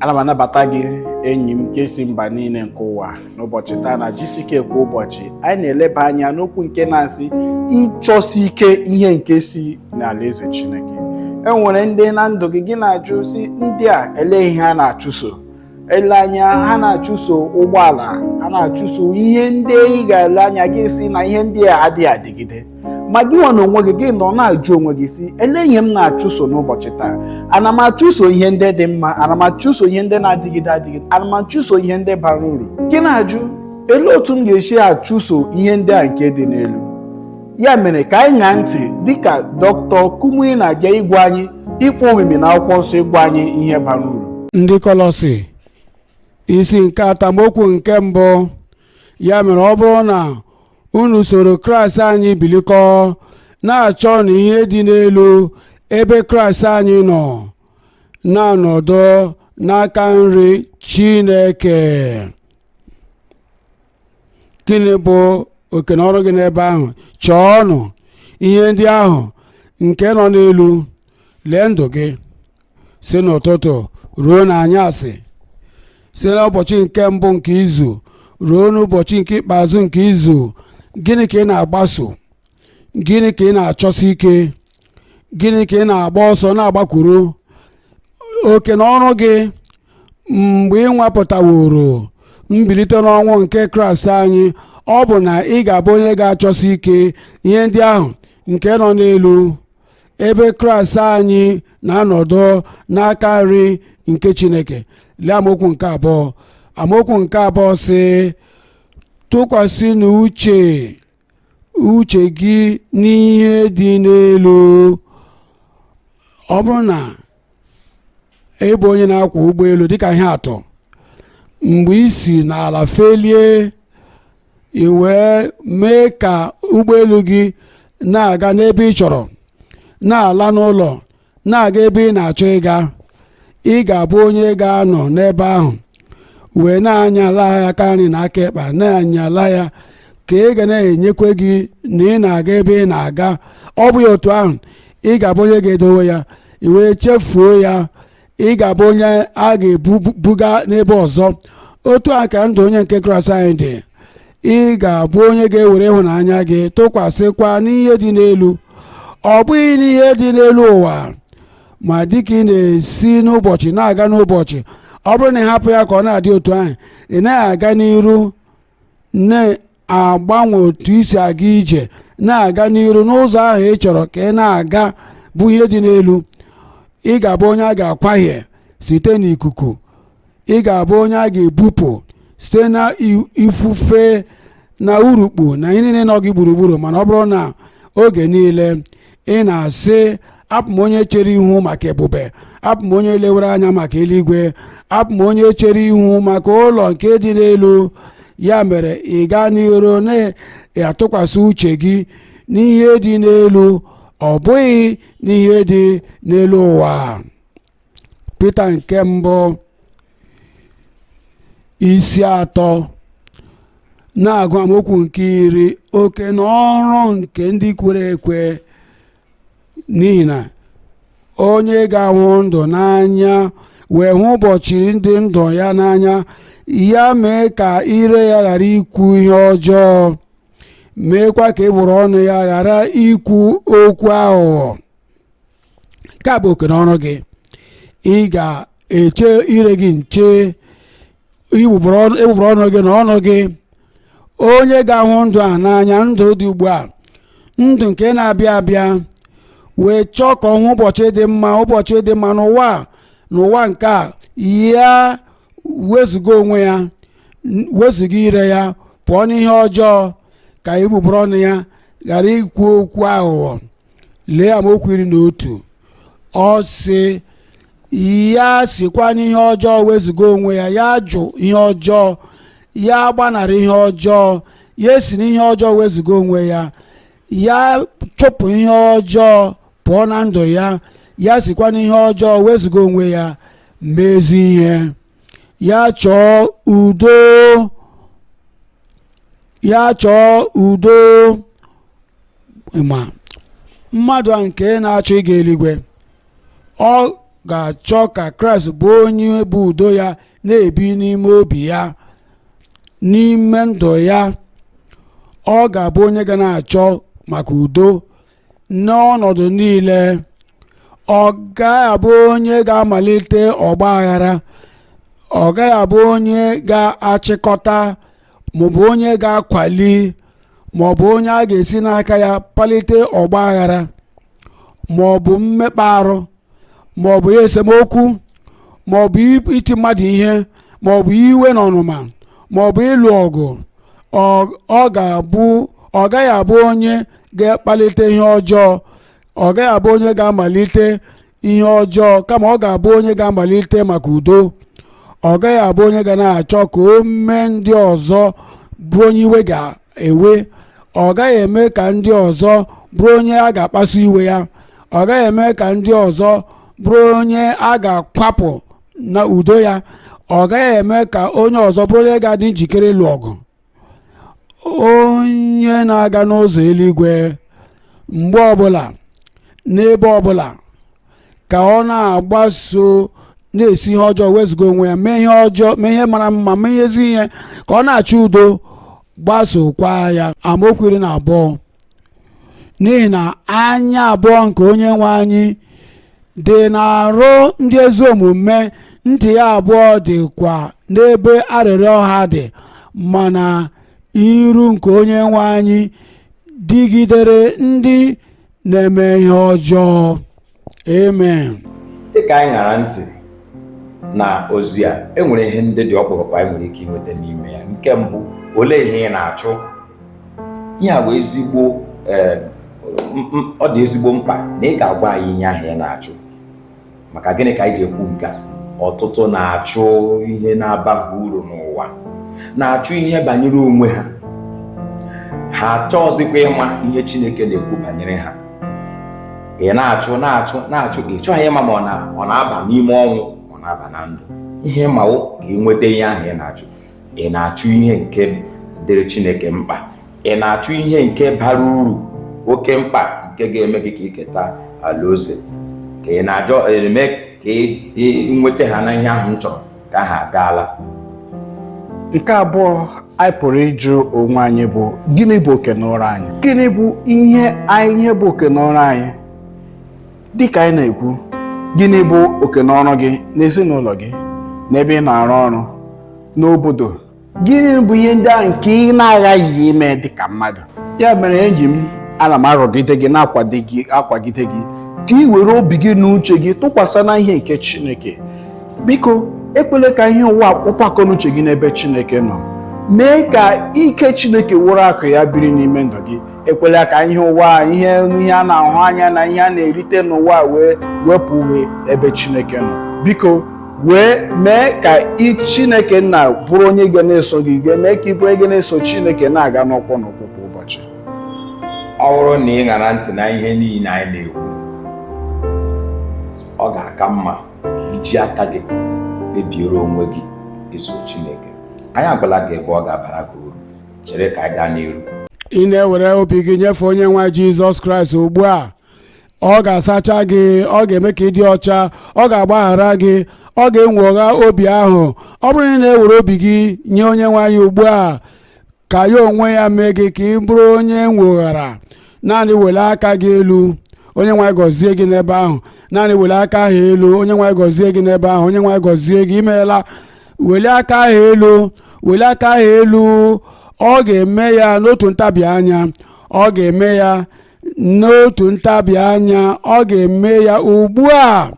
ana m anabata gị enyi m nke si mba niile nke ụwa n'ụbọchị taa na GCK kwa ụbọchị anyị na-eleba anya n'okwu nke na-asị ịchọsi ike ihe nke si n'alaeze Chineke e nwere ndị na ndụ gị gị na-ajụ sị ndị a ele ihe ha na-achụso ele anya ha na-achụso ụgbọala ha na-achụso ihe ndị ị ga-ele anya gị sị na ihe ndị a adịghị adịgide ma gị nwa n'onwe gị gị nọ na-ajụ onwe gị sị ele ihe m na-achụso n'ụbọchị taa ana m achụso ihe ndị dị mma ana m achụso ihe ndị na-adịgide adịgide ana m achụso ihe ndị bara uru gị na-ajụ ele otu m ga-esi achụso ihe ndị a nke dị n'elu ya mere ka anyị ṅaa ntị dịka dọktọ Kumuyi na-abịa ịgwa anyị ịkpọ omimi n'akwụkwọ nsọ ịgwa anyị ihe bara uru ndị kọlọsi isi nke atọ amaokwu nke mbụ ya mere ọ bụrụ na unu soro kraịst anyị bilikọ na-achọnụ ihe dị n'elu ebe kraịst anyị nọ na-anọdụ n'aka nri chineke gịnị bụ oke na ọrụ gị n'ebe ahụ chọọnụ ihe ndị ahụ nke nọ n'elu lee ndụ gị si n'ụtụtụ ruo n'anyasị si n'ụbọchị nke mbụ nke izu ruo n'ụbọchị nke ikpeazụ nke izu gịnị ka ị na-agbaso gịnị ka ị na-achọsi ike gịnị ka ị na-agba ọsọ na-agbakwuru oke na ọrụ gị mgbe ị nwapụtaworo mbilite n'ọnwụ nke kraịst anyị ọ bụ na ị ga-abụ onye ga-achọsi ike ihe ndị ahụ nke nọ n'elu ebe kraịst anyị na-anọdụ n'aka nri nke chineke lee amaokwu nke abụọ amaokwu nke abụọ sị tụkwasịnụ uche uche gị n'ihe dị n'elu ọ bụrụ na ị bụ onye na-akwọ ụgbọelu dịka ihe atụ mgbe i si n'ala felie i wee mee ka ụgbọelu gị na-aga n'ebe ị chọrọ na-ala n'ụlọ na-aga ebe ị na-achọ ịga ị ga-abụ onye ga-anọ n'ebe ahụ wee na-anya ala ya aka nri na aka ịkpa na-anya ala ya ka ị ga na-enyekwe gị na ị na-aga ebe ị na-aga ọ bụghị otu ahụ ị ga-abụ onye ga-edowe ya i wee chefuo ya ị ga-abụ onye a ga-ebuga n'ebe ọzọ otu a ka ndụ onye nke kraịst anyị dị ị ga-abụ onye ga-ewere ịhụnanya gị tụkwasịkwa n'ihe dị n'elu ọ bụghị n'ihe dị n'elu ụwa ma dịka ị na-esi n'ụbọchị na-aga n'ụbọchị ọ bụrụ na ị hapụ ya ka ọ na-adị otu ahụ ị naghị aga n'iru na-agbanwe otu i si aga ije na-aga n'iru n'ụzọ ahụ ị chọrọ ka ị na-aga bụ ihe dị n'elu ị ga-abụ onye a ga-akwahie site n'ikuku ị ga-abụ onye a ga-ebupụ site na ifufe na urukpu na ihe niile nọ gị gburugburu mana ọ bụrụ na oge niile ị na-asị abụ m onye chere ihu maka ebube abụ m onye lewere anya maka eluigwe abụ m onye chere ihu maka ụlọ nke dị n'elu ya mere ị gaa n'iru na-atụkwasị uche gị n'ihe dị n'elu ọ bụghị n'ihe dị n'elu ụwa Pita nke mbụ isi atọ na-agụ amaokwu nke iri oke na ọrụ nke ndị kwere ekwe n'ihi na onye ga-ahụ ndụ n'anya wee hụ ụbọchị ndị ndụ ya n'anya ya mee ka ire ya ghara ikwu ihe ọjọọ meekwa ka egbugbere ọnụ ya ghara ikwu okwu aghụghọ nke a bụ oke na ọrụ gị ị ga-eche ire gị nche egbugbere ọnụ gị na ọnụ gị onye ga-ahụ ndụ a n'anya ndụ dị ugbu a ndụ nke na-abịa abịa wee chọọ ka ọ hụ ụbọchị dị mma ụbọchị dị mma n'ụwa nke a ya wezụga onwe ya wezụga ire ya pụọ n'ihe ọjọọ ka egbugbere ọnụ ya ghara ikwu okwu aghụghọ lee amaokwu iri na otu ọ sị ya sikwa n'ihe ọjọọ wezụga onwe ya ya jụ ihe ọjọọ ya gbanarị ihe ọjọọ ya si n'ihe ọjọọ wezụga onwe ya ya chụpụ ihe ọjọọ pụọ na ndụ ya ya sikwa n'ihe ọjọọ wezụga onwe ya mee ezi ihe ya chọọ udo ya chọọ udo ma mmadụ a nke na-achọ ịga eluigwe ọ ga-achọ ka kraịst bụ onye bụ udo ya na-ebi n'ime obi ya n'ime ndụ ya ọ ga-abụ onye ga na-achọ maka udo n'ọnọdụ niile ọ gaghị abụ onye ga-amalite ọgba aghara ọ gaghị abụ onye ga-achịkọta maọbụ onye ga-akwali maọbụ onye a ga-esi n'aka ya kpalite ọgba aghara maọbụ mmekpa arụ maọbụ ya esemokwu maọbụ i- iti mmadụ ihe maọbụ iwe na ọnụma maọbụ ịlụ ọgụ ọ- ọ ga-abụ ọ gaghị abụ onye ga-akpalite ihe ọjọọ ọ gaghị abụ onye ga-amalite ihe ọjọọ kama ọ ga-abụ onye ga-amalite maka udo ọ gaghị abụ onye ga na-achọ ka o mee ndị ọzọ bụrụ onye iwe ga-ewe ọ gaghị eme ka ndị ọzọ bụrụ onye a ga-akpasu iwe ya ọ gaghị eme ka ndị ọzọ bụrụ onye a ga-akwapụ na udo ya ọ gaghị eme ka onye ọzọ bụrụ onye ga-adị njikere ịlụ ọgụ onye na-aga n'ụzọ eluigwe mgbe ọbụla n'ebe ọbụla ka ọ na-agbaso na-esi ihe ọjọọ wezụga onwe ya mee ihe ọjọọ mee ihe mara mma mee ihe ezi ihe ka ọ na-achọ udo gbasokwa ya amaokwu iri na abụọ n'ihi na anya abụọ nke onye nwe anyị dị n'arụ ndị ezi omume ntị ya abụọ dịkwa n'ebe arịrịọ ha dị mana iru nke onye nwe anyị dịgidere ndị na-eme ihe ọjọọ amen dịka anyị ṅara ntị na ozi a enwere ihe ndị dị ọkpụrụkpụ anyị nwere ike inweta n'ime ya nke mbụ olee ihe ị na-achụ ihe a bụ ezigbo eh, m- m- ọ dị ezigbo mkpa na ị ga-agwa anyị ihe ahụ ị na-achụ maka gịnị ka anyị ji ekwu nke a ọtụtụ na-achụ ihe na-abaghị uru n'ụwa na-achụ ihe banyere onwe ha ha achọghịzikwa ịma ihe Chineke na-ekwu banyere ha ị na-achụ na-achụ na-achụ ị chọghị ịma ma ọ na ọ na-aba n'ime ọnwụ ma ọ na-aba na ndụ ihe ị ma wụ ka ị nweta ihe ahụ ị na-achụ ị na-achụ ihe nke dịrị Chineke mkpa ị na-achụ ihe nke bara uru oke mkpa nke ga-eme gị ka ị keta alaeze ka ị na-achọ ime ka ị ị nweta ha na ihe ahụ m chọrọ ka ha agaala nke abụọ anyị pụrụ ịjụ onwe anyị bụ gịnị bụ oke n'ọrụ anyị gịnị bụ ihe anyị ihe bụ oke n'ọrụ anyị dịka anyị na-ekwu gịnị bụ oke n'ọrụ gị n'ezinụlọ gị n'ebe ị na-arụ ọrụ n'obodo gịnị bụ ihe ndị ahụ nke ị na-aghaghị ime dị ka mmadụ ya mere enyi m ana m arọgide gị na-akwagide gị ka ị were obi gị na uche gị tụkwasị na ihe nke Chineke biko ekwele ka ihe ụwa kpụpụ akọnuche gị n'ebe Chineke nọ mee ka ike Chineke wụrụ akụ ya biri n'ime ndụ gị ekwela ka ihe ụwa a, ihe a na-ahụ anya na ihe a na-erite n'ụwa a wee wepụ gị ebe chineke nọ biko wee mee ka chineke nna bụrụ onye ga na-eso gị ga mee ka ị bụrụ onye ga na-eso chineke na-aga n'ụkwụ n'ụkwụ kwa ụbọchị ọ bụrụ na ị ṅara ntị na ihe niile anyị na-ekwu ọ ga-aka mma iji aka gị kpebiere onwe gị iso Chineke anyị agwala gị ebe ọ ga-abara gị uru chere ka anyị gaa n'iru ị na-ewere obi gị nyefee onye nwe jizọs kraịst ugbu a ọ ga-asacha gị ọ ga-eme ka ị dị ọcha ọ ga-agbaghara gị ọ ga-enwogha obi ahụ ọ bụrụ na ị na-ewere obi gị nye onye nwe anyị ugbu a ka ya onwe ya mee gị ka ị bụrụ onye e nwoghara naanị welie aka gị elu onye nwe anyị gọzie gị n'ebe ahụ naanị welie aka ahụ elu onye nwe anyị gọzie gị n'ebe ahụ onye nwe anyị gọzie gị imeela welie aka ahụ elu welie aka ahụ elu ọ ga-eme ya n'otu ntabi anya ọ ga-eme ya n'otu ntabi anya ọ ga-eme ya ugbu a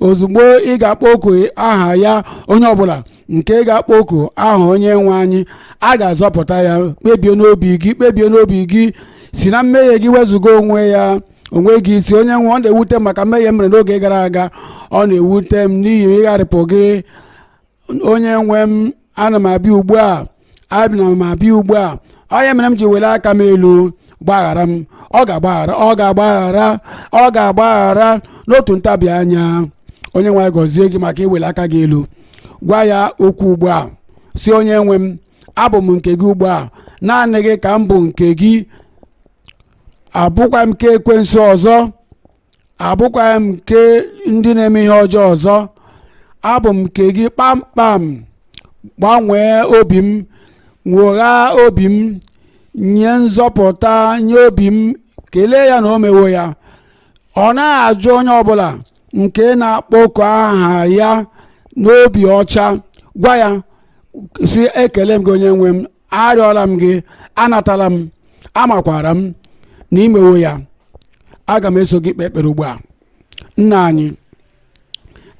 ozugbo ị ga-akpọku aha ya onye ọbụla nke ga-akpọku aha onye nwe anyị a ga-azọpụta ya kpebie n'obi gị kpebie n'obi gị si na mmehie gị wezụga onwe ya onwe gị si onye nwe ọ na-ewute m maka mmehie m mere n'oge gara aga ọ na-ewute m n'ihi ịgharịpụ gị onye nwe m ana m abịa ugbu a ana m abịa ugbu a ọ ya mere m ji welie aka m elu gbaghara m ọ ga-agbaghara ọ ga-agbaghara ọ ga-agbaghara n'otu ntabi anya onye nwe anyị gọzie gị maka iweli aka gị elu gwa ya okwu ugbu a si onye nwe m abụ m nke gị ugbu a naanị gị ka m bụ nke gị abụkwaghị m nke ekwensu ọzọ abụkwaghị m nke ndị na-eme ihe ọjọọ ọzọ abụ m nke gị kpamkpam gbanwee obi m nwogha obi m nye nzọpụta nye obi m kelee ya na o mewo ya ọ naghị ajụ onye ọbụla nke na-akpọku aha ya n'obi ọcha gwa ya si ekele m gị onye nwe m arịọla m gị anatala m amakwara m na imewo ya aga m eso gị kpee ekpere ugbu a nna anyị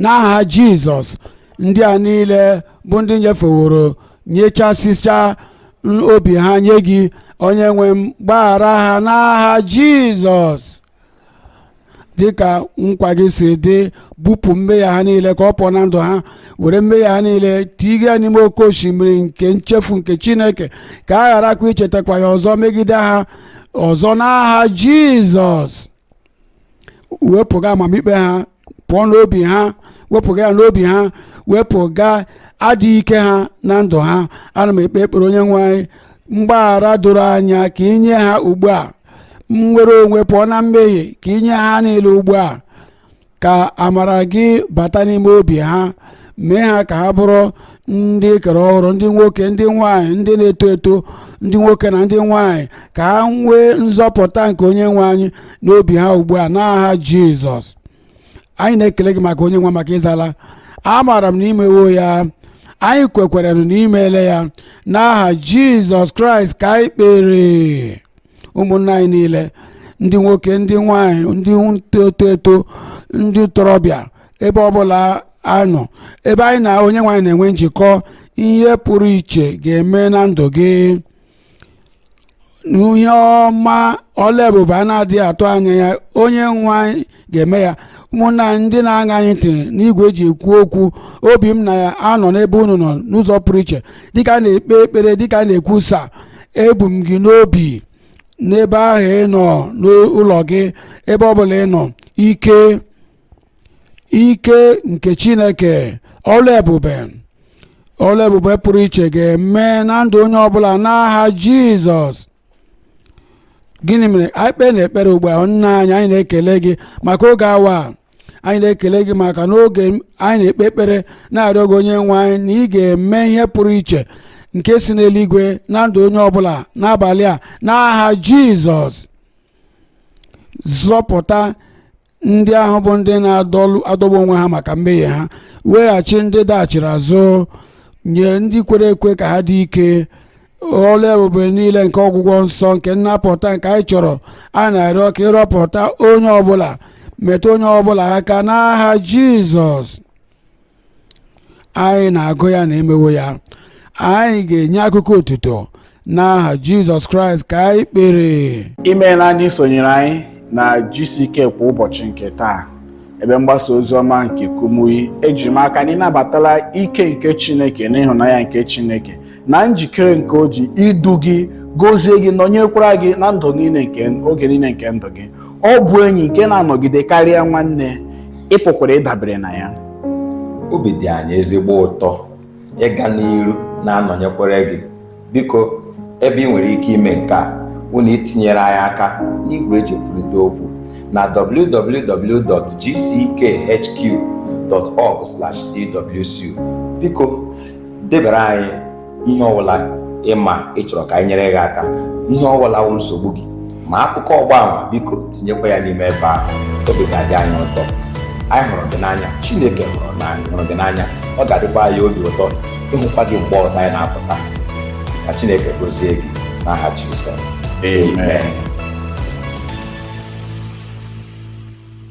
n'aha jizọs ndị a niile bụ ndị nyefeworo nyechasịcha obi ha nye gị onye nwe m gbaghara ha n'aha jizọs dịka nkwa gị si dị bupụ mmehie ha niile ka ọ pụọ na ndụ ha were mmehie ha niile tiga ya n'ime oke osimiri nke nchefu nke chineke ka a gharakwa ichetakwa ya ọzọ megide ha ọzọ n'aha jizọs wepụga amamikpe ha pụọ n'obi ha wepụga ya n'obi ha wepụga adịghị ike ha na ndụ ha ana m ekpe ekpere onye nwe anyị mgbaghara doro anya ka inye ha ugbu a nnwere onwe pụọ na mmehie ka inye ha niile ugbu a ka amara gị bata n'ime obi ha mee ha ka ha bụrụ ndị ekere ọhụrụ ndị nwoke ndị nwanyị ndị na-eto eto ndị nwoke na ndị nwanyị ka ha nwee nzọpụta nke onye nwe anyị n'obi ha ugbu a n'aha jizọs anyị na-ekele gị maka onye nwe maka ịzala amaara m na imewo ya anyị kwekwere na imeela ya n'aha jizọs kraịst ka anyị kpere ụmụnna anyị niile ndị nwoke ndị nwanyị ndị eto eto ndị ntorobịa ebe ọbụla a nọ ebe anyị na onye nwe anyị na-enwe njikọ ihe pụrụ iche ga-eme na ndụ gị ihe ọma ọlụ ebube a na-adịghị atụ anya ya onye nwe anyị ga-eme ya ụmụnna anyị ndị na-aṅa anyị ntị n'igwe eji ekwu okwu obi m na-anọ n'ebe unu nọ n'ụzọ pụrụ iche dịka a na-ekpe ekpere dịka a na-ekwusa ebu m gị n'obi n'ebe ahụ ị nọ n'ụlọ gị ebe ọ bụla ị nọ ike ike nke chineke ọlụ ebube ọlụ ebube pụrụ iche ga-eme na ndụ onye ọbụla n'aha jizọs gịnị mere anyị kpee na ekpere ugbu a nna anyị anyị na-ekele gị maka oge awa a. anyị na-ekele gị maka n'oge anyị na-ekpe ekpere na-arịọ gị onye nwe anyị na ị ga-eme ihe pụrụ iche nke si n'eluigwe na ndụ onye ọbụla n'abalị a n'aha jizọs zọpụta ndị ahụ bụ ndị na-adọgbu onwe ha maka mmehie ha weghachi ndị daghachiri azụ nye ndị kwere ekwe ka ha dị ike ọlụ ebube niile nke ọgwụgwọ nsọ nke nnapụta nke anyị chọrọ a na-arịọ ka ịrọpụta onye ọbụla metụ onye ọbụla aka n'aha jizọs anyị na-agụ ya na emewo ya anyị ga-enye akụkọ otuto n'aha jizọs kraịst ka anyị kpere imeela anyị isonyere anyị na GCK kwa ụbọchị nke taa ebe mgbasa ozi ọma nke kumuyi eji m aka na ịnabatala ike nke chineke na ịhụnanya nke chineke na njikere nke o ji idu gị gozie gị nọnyekwara gị na ndụ niile nke oge niile nke ndụ gị ọ bụ enyi nke na-anọgide karịa nwanne ị pụkwara ịdabere na ya obi dị anyị ezigbo ụtọ ịga n'iru na-anọnyekwara gị biko ebe ị nwere ike ime nke a bụ n'itinyere anyị aka n'igwe eji ekwurịta okwu na www.gckhq.org/cwc biko debara anyị ihe ọbụla ị ma ị chọrọ ka anyị nyere gị aka ihe ọbụla wụ nsogbu gị ma akụkọ ọgba ama biko tinyekwa ya n'ime ebe ahụ obi ga-adị anyị ụtọ anyị hụrụ gị n'anya chineke hụrụ gị n'anya ọ ga-adịkwa anyị obi ụtọ ịhụkwa gị mgbe ọzọ anyị na-apụta ka chineke gozie gị n'aha jizọs Amen.